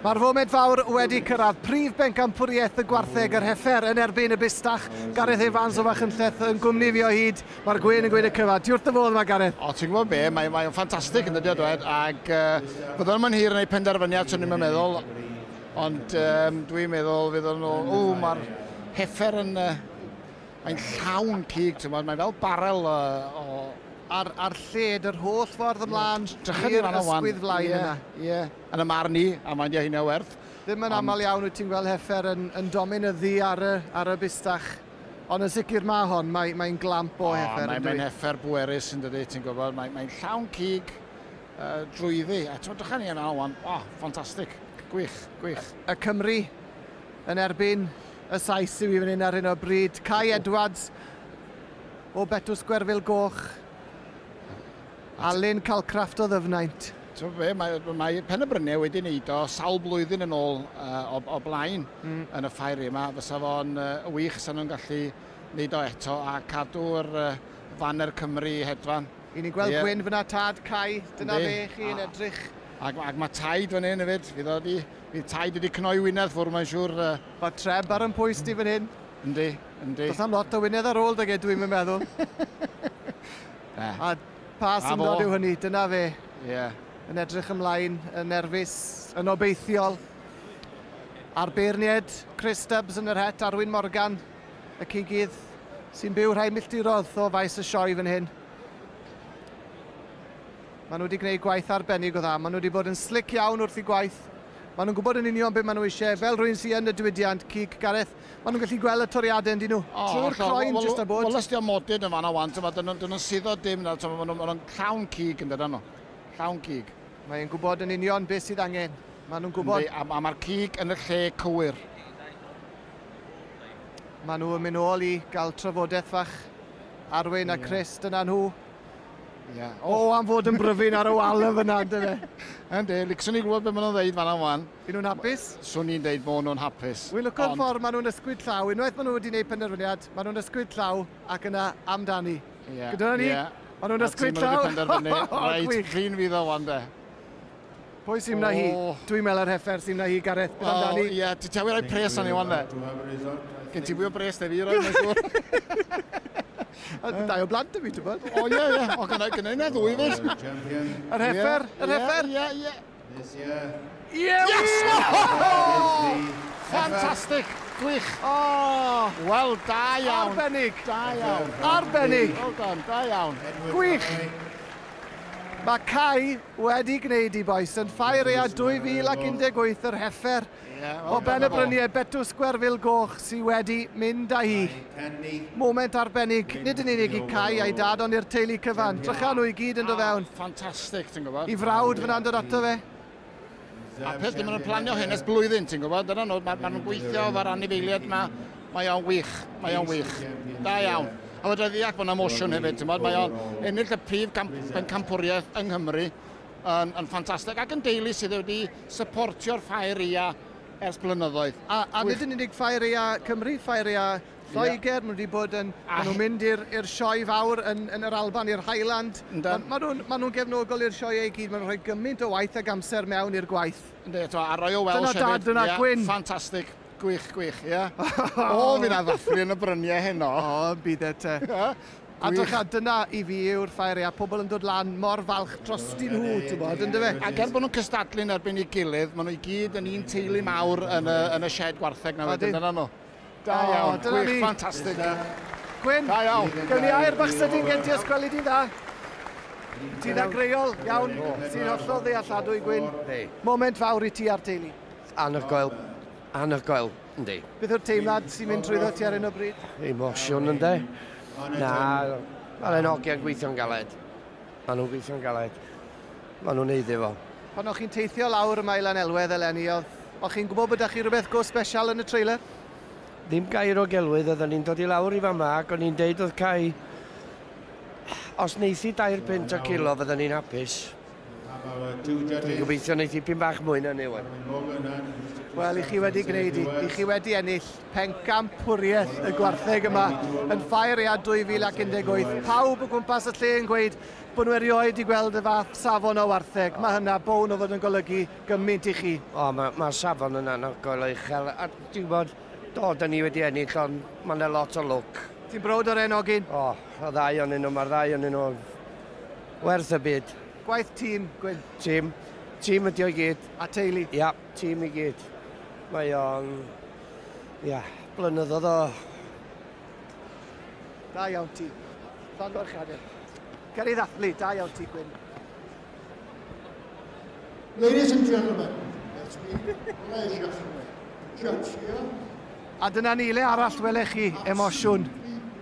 Mae'r foment fawr wedi cyrraedd prif bencampwriaeth y gwartheg yr heffer yn erbyn y bustach. Gareth Evans o Fachynlleth yn gwmni fi o hyd. Mae'r gwyn yn gwneud y cyfa. Diwrth dy fodd yma, Gareth. O, ti'n gwybod be, mae'n mae ffantastig yn dydio o dwed, ac uh, byddwn yn hir yn ei penderfyniad, swn i'n meddwl, ond um, dwi'n meddwl fydd o'n... O, mae'r heffer yn... Uh, Mae'n llawn cig, ti'n gwybod, mae fel barel o... o... Ar, ar lled yr holl ffordd ymlaen i'r ysgwydd flaen yeah, yna. Ie, yeah. yn y marn i, a mae'n hynna werth. Ddim yn aml iawn wyt ti'n gweld heffer yn, yn dominyddu ar y, ar y bustach. Ond yn sicr mae hon, mae'n mae glamp o heffer. Mae'n mae heffer bwerus yn dydy, ti'n gwybod. Mae'n mae llawn cig uh, drwyddi. A ti'n dychan ni yna o'n, oh, ffantastig. Gwych, gwych. Y Cymru yn erbyn Y Sais sydd i fyny'n ar hyn o bryd, Cai Edwards o Betws Gwerfil Goch, Alun Calcraft o Ddyfnaint. Ti'n fe, mae, mae Penybryniau wedi wneud o sawl blwyddyn yn ôl uh, o, o blaen mm. yn y ffair yma. Fysa fo'n uh, wych sy'n nhw'n gallu wneud o eto a cadw'r uh, faner Cymru hedfan. I ni'n gweld yeah. Gwyn fyna tad Cai, dyna fe chi yn edrych. Ac, ac mae taid fan hyn hefyd, fydd, wedi, fydd taid wedi cnoi wynedd ffwrdd mae'n siŵr. Uh, Mae treb ar 'y mhwys di fan hyn. Yndi, yndi. Does am lot o wynedd ar ôl dyge, dwi'm yn meddwl. Na. A pa syndod yw hynny, dyna fe. Ie. Yeah. Yn edrych ymlaen, yn nerfus, yn obeithiol. A'r beirniaid, Chris Stubbs yn yr het, Arwyn Morgan, y cigydd, sy'n byw rhai milltirodd o faes y sioe fan hyn. Maen nhw wedi gwneud gwaith arbennig o dda. Maen nhw wedi bod yn slic iawn wrth i gwaith. Maen nhw'n gwybod yn union beth maen nhw eisiau. Fel rhywun sy'n yn y diwydiant cig, Gareth, maen nhw'n gallu gweld y toriadau yn dyn nhw. Oh, Trwy'r croen, jyst a bod. Wel, os diolch modyn yn fanna wan, tyma, dyn nhw'n suddo dim nawr, tyma, maen nhw'n llawn cig yn dydyn nhw. Llawn cig. Mae e'n gwybod yn union beth sydd angen. Maen nhw'n gwybod. A, a mae'r cig yn y lle cywir. Maen nhw'n mynd ôl i gael trafodaeth fach. Arwyn a Chris, dyna nhw. Ia. O, am fod yn bryfyn ar y wal yn fyna, ynde fe? Yndi, licsen i glywed beth maen nhw'n ddeud fanna wan. Yn nhw'n hapus? Swn i'n deud bod nhw'n hapus. Wy'n lwco'r Ond- ffordd maen nhw'n ysgwyd llaw. Unwaith maen nhw wedi gwneud penderfyniad, maen nhw'n ysgwyd llaw ac yna amdani. Ie. Gyda ni? Ie. Maen nhw'n ysgwyd llaw. A ti'n mynd i penderfynu. Reit, fi'n fydd o wan de. Pwy sy'n na hi? Dwi'n meddwl yr heffer sy'n na hi, Gareth. Beth amdani? O, ie. Ti ti awyr rhoi pres arni wan, fe? Gen ti fwy o bres na fi, roi, mae'n siŵr. Dau o blant y fi, ti'n bod? O, ie, ie. O, gyda gyda yna ddwy, fes. Yr heffer, yr heffer. Ie, ie, ie. Yes! Fantastic! Gwych! O! Wel, da iawn. Arbennig. Da iawn. Arbennig. Wel done, da iawn. Gwych! Mae Cai wedi gwneud i Bois and Fire Ea 2018 yr heffer o ben y bryniau Betws Gwerfyl Goch sydd wedi mynd â hi. Moment arbennig, nid yn unig i Cai a'i dad ond i'r teulu cyfan. Drychan nhw i gyd yn do fewn. Ffantastig, ti'n gwybod. I frawd fyna'n dod ato fe. A peth dim yn planio hyn ers blwyddyn, ti'n gwybod? Dyna nhw, maen ma nhw'n gweithio efo'r anifeiliaid yma. Mae o'n wych, mae o'n wych. Da iawn. A fydra ddeall bod yna mosiwn hefyd, ti'n gwybod? Mae o'n ennill y prif camp, campwriaeth yng Nghymru yn, yn ffantastig ac yn deulu sydd wedi supportio'r ffair ia ers blynyddoedd. A, a nid yn unig ffair ia Cymru, ffair ia Lloegr, maen nhw wedi bod yn... Maen nhw'n mynd i'r sioe fawr yn, yn yr Alban, i'r Highland. Yndan. Maen nhw'n ma nhw gefnogol i'r sioeau i gyd, maen nhw'n rhoi gymaint o waith ac amser mewn i'r gwaith. Ynddi, to, a Royal Welsh hefyd. Dyna dad, dyna yeah, Gwyn. Ffantastig. Gwych, gwych, ie. Yeah. o, fi na ddathlu yn y bryniau heno. O, byd e te. A dych, a dyna i fi yw'r ffair, a pobl yn dod lan mor falch dros dyn nhw, ti'n bod, ynddo fe? Ac er bod nhw'n cystadlu'n erbyn ei gilydd, maen nhw i gyd yn un teulu mawr yn y, yn y shed gwartheg na wedyn, dyna nhw. Da iawn, gwych, ffantastig. Gwyn, da iawn. Gawn ni air bach sydyn gen ti os gweli di'n dda. Ti'n agreol, iawn, ti'n hollol ddealladwy, Gwyn. Moment fawr i ti a'r teulu. Anhygoel, anhygoel, yndi. Beth yw'r teimlad sy'n mynd trwyddo ti ar un o bryd? Emosiwn, yndi. Na, mae'n hogiau'n gweithio'n galed. Maen nhw'n gweithio'n galed. Maen nhw'n neud iddo fo. Pan o'ch chi'n teithio lawr y Maelan Elwedd eleni, oedd... o'ch chi'n gwybod bod 'da chi rhywbeth go special yn y trailer? Ddim gair o gelwydd, oedden ni'n dod i lawr i fama ac o'n i'n deud oedd cau... Os neithi dair punt o kilo fydden ni'n hapus. Dwi'n gobeithio neith dipyn bach mwy na 'ny ŵan. Wel, i chi wedi gwneud i. I chi wedi ennill pencampwriaeth y gwartheg yma yn Ffair Ead 2018. Pawb o gwmpas y lle yn gweud Bod nhw erioed 'di gweld y fath safon o wartheg, mae hynna bown o fod yn golygu gymaint i chi. O, mae'r ma safon yn anhygoel o uchel, a ti'n gwybod, do, da ni wedi ennill, ond mae yna lot o lwc. Ti'n browd o'r enogyn? O, y ddau o'n nhw, mae'r ddau o'n nhw werth y byd. Gwaith tîm, Gwyn? Tîm. Tîm ydi o'i gyd. A teulu? Ia, tîm i gyd. Mae o'n... Ia, blynyddoedd o Da iawn ti. Llongyfarchiadau. Cael ei ddathlu, da iawn ti, Gwyn. Ladies and gentlemen, it's been pleasure for me. Judge here. A dyna ni, le arall welech chi emosiwn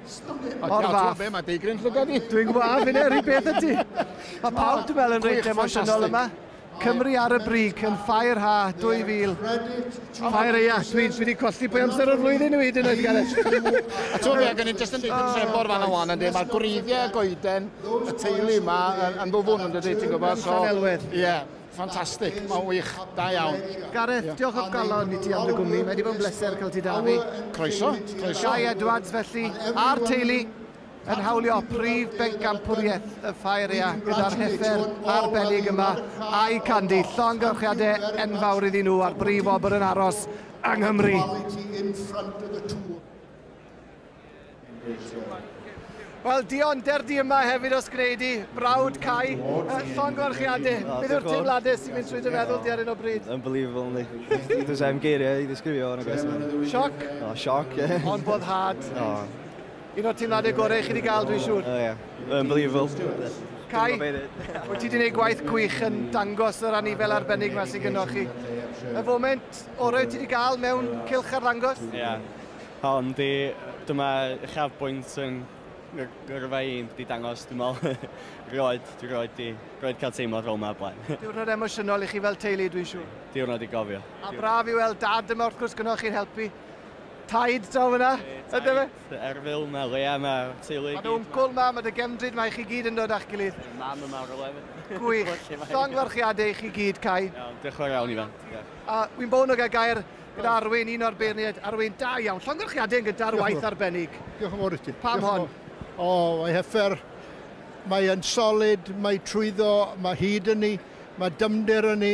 O'r fath. Mae deigryn llygad i. Dwi'n gwaf, fi'n eri beth ydy. Mae pawb dwi'n meddwl yn reit emosiynol yma. Cymru ar y brig yn Fireha 2000. Fireha, dwi wedi colli pwy amser o'r flwyddyn yw hyd yn oed, Gareth. A ti'n gwybod, gen i'n jyst yn deithi'n trefor fan o'n ynddi, mae'r gwreiddiau goeden, y teulu yma, yn ddwfwn yn dydy, ti'n gwybod? Mae'n elwedd. Ie, ffantastig, mae'n wych, da iawn. Gareth, diolch o galon i ti am dy gwmni, mae wedi bod yn bleser cael ti da fi. Croeso, croeso. Gai Edwards felly, a'r teulu. yn hawlio prif bencampwriaeth y Ffaeria gyda'r heffer arbennig yma a'i Candy. Llongyfrchiadau enfawr iddyn nhw a'r brif wobr yn aros yng Nghymru. Wel, Dion, derdi yma hefyd os gwneud i, brawd Cai, llongyfarchiadau. Oh, Beth yw'r teimladau sy'n mynd trwy dy meddwl di ar un o bryd? Unbelievable, ni. Dwi'n sef geiriau i ddisgrifio yn y gwestiwn. Sioc? O, sioc, ie. Ond boddhad. O. Un o'r teimladau gorau chi wedi cael, dwi'n siŵr. Oh yeah, unbelievable. Cai, wyt ti wedi gwneud gwaith gwych yn dangos yr anifail arbennig yma sy'n gynnwch chi. Y foment orau ti wedi cael mewn cilch ar ddangos? Ie. Yeah. Hon, di, dyma uchafbwynt yn gyrfa i di dangos, dwi'n meddwl, roed, dwi roed di, roed cael teimlo fel yma blaen. Diwrnod emosiynol i chi fel teulu, dwi'n siŵr. Diwrnod i gofio. A braf i weld dad yma, wrth gwrs, gynnwch chi'n helpu. Taid draw yna, ynddo fe? Taid, Erfil, mae Lea, mae teulu i gyd. Mae dy wncwl ma, mae dy gefndryd ma, i chi gyd yn dod a'ch gilydd. Mae mam yma o'r lew. Gwych. Llongyfarchiadau i chi gyd, Cai. Iawn, diolch yn fawr iawn, Ifan. A wy'n bo'n o gael gair gyda Arwyn, un o'r beirniaid. Arwyn, da iawn. Llongyfarchiadau yn gyda'r waith arbennig. Diolch yn fawr i ti. Pam hon? O, mae hyffer. Mae'n solid, mae trwyddo, mae hyd yn ni, mae dymder yn ni,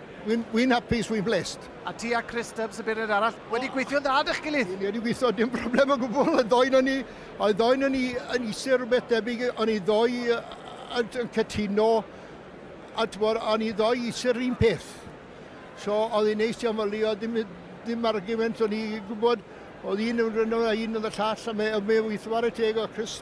Wi'n wi'n hapus, wi'n blessed. A ti a Chris Stubbs y beirniad arall wedi gweithio'n dda 'dych gilydd? Ni wedi gweithio dim problem o gwbl, y ddou na ni, y ddou na ni yn isie rhywbeth debyg, a ni ddou yn yn cytuno a t'mod a ni ddou isie'r un peth. So oedd hi'n neis iawn fel oedd dim dim argument o'n i gwybod oedd un yn rhan o un yn y llall a mae mae weithio ar y teg o Chris